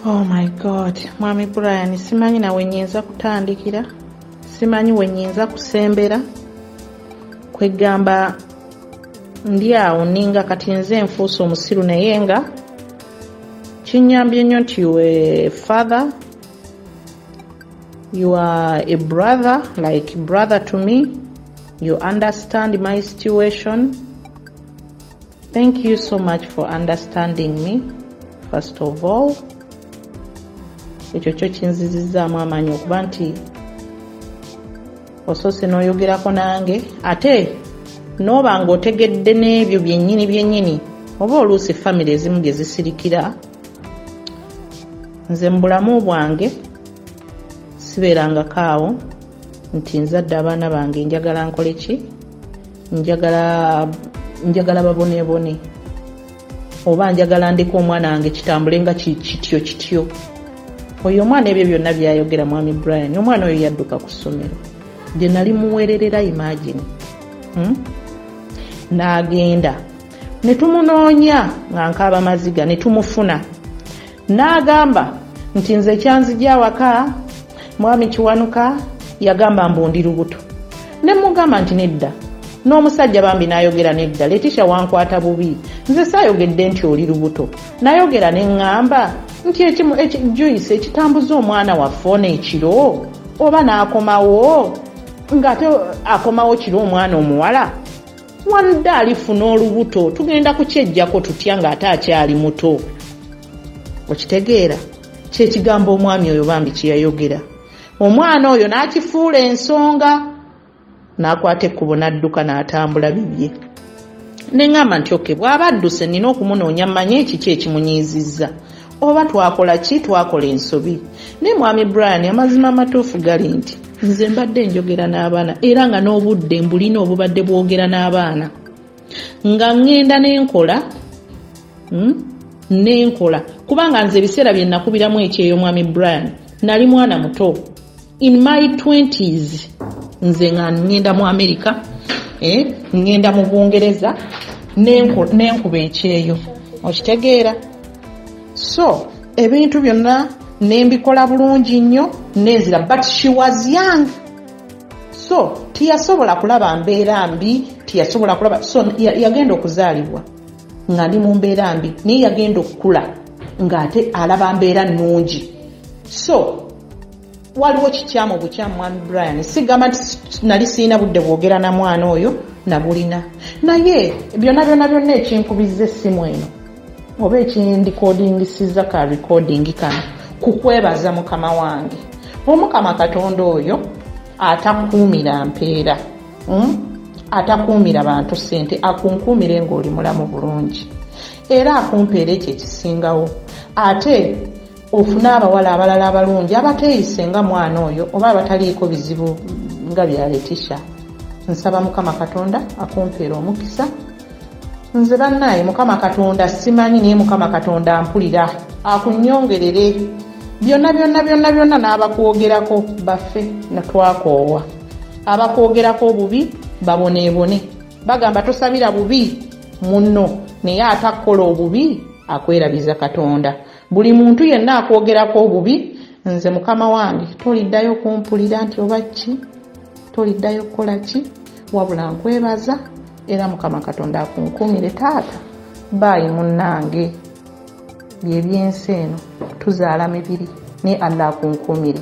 oh my god mwami brian simanyi nawe nyinza kutandikira simanyi wenyinza kusembera kwegamba ndi awo ninga kati nze nfuusa omusiru naye nga kinyambye nnyo nti we father you are a brother like brother to me you understand my situation Thank you so much for understanding me first of all ekyo kyo kinzizizaamu amaanyi okuba nti osoose n'oyogerako nange ate n'oba ng'otegedde n'ebyo byennyini byennyini oba oluusi famire ezimu gye zisirikira nze mu bulamu bwange sibeerangako awo nti nzadde abaana bange njagala nkole ki njagala njagala babonebone oba njagala ndeka omwana wange kitambule nga kityo kityo oyo omwana ebyo byonna byayogera mwami brian omwana oyo yadduka ku ssomero gye nali muwererera imagine hmm? n'agenda ne tumunoonya nga nkaaba maziga ne tumufuna N'agamba nti nze ekyanzija awaka Mwami Kiwanuka yagamba mbu ndi lubuto ne mmugamba nti nedda n'omusajja bambi n'ayogera nedda Letisha wankwata bubi nze saayogedde nti oli lubuto nayogera ne ŋŋamba nti Joyce ekitambuza omwana waffe ono ekiro oba n'akomawo ng'ate akomawo kiro omwana omuwala Walda alifuna olubuto tugenda kukyejjako tutya ng'ate akyali muto okitegeera kyekigambo omwami oyo bambi kyeyayogera omwana oyo n'akifuula ensonga n'akwata ekkubo n'adduka n'atambula bibye ne ŋŋamba nti oke bw'aba adduse nnina okumunoonya mmanye ekiki ekimunyiizizza oba twakola ki twakola ensobi naye mwami brian amazima amatuufu gali nti nze mbadde njogera n'abaana era nga n'obudde mbulina obubadde bwogera n'abaana nga ŋŋenda n'enkola hmm, n'enkola kubanga nze ebiseera bye nakubiramu ekyeyo mwami brian nali mwana muto in my 20s nze nga ngenda mu america eh, ngenda mu bungereza nenkuba ekyeyo okitegeera so ebintu byonna nembikola bulungi nnyo nenzira but she was young so tiyasobola kulaba mbeera mbi tiyasobola kulaba so yagenda okuzaalibwa nga ndi mu mbeera mbi naye yagenda okukula ng'ate alaba mbeera nnungi so waliwo kikyamu bukyamu mwami brian sigamba nti nali sirina budde bwogera na mwana oyo nabulina naye byona byona byonna ekinkubiza essimu eno oba ekindikodingisiza ka recording kano kukwebaza mukama wange omukama katonda oyo atakuumira mpeera hmm? atakuumira bantu sente akunkuumire ngaoli mulamu bulungi era akumpeera ekyo ekisingawo ate ofune abawala abalala abalungi abateeyise nga mwana oyo oba abataliiko bizibu nga bya letisha nsaba mukama katonda akumpeera omukisa nze bannaaye mukama katonda simanyi naye mukama katonda ampulira akunyongerere byonna byonna byonna byonna n'abakwogerako baffe natwakoowa abakwogerako obubi baboneebone bagamba tosabira bubi munno naye ate akkola obubi akwerabiza katonda Buli muntu yenna akwogerako obubi nze mukama wange toliddayo kumpulira nti oba ki toliddayo kukola ki wabula nkwebaza era mukama katonda akunkumire taata baayi munnange byebyensi eno tuzaala mibiri naye allah akunkumire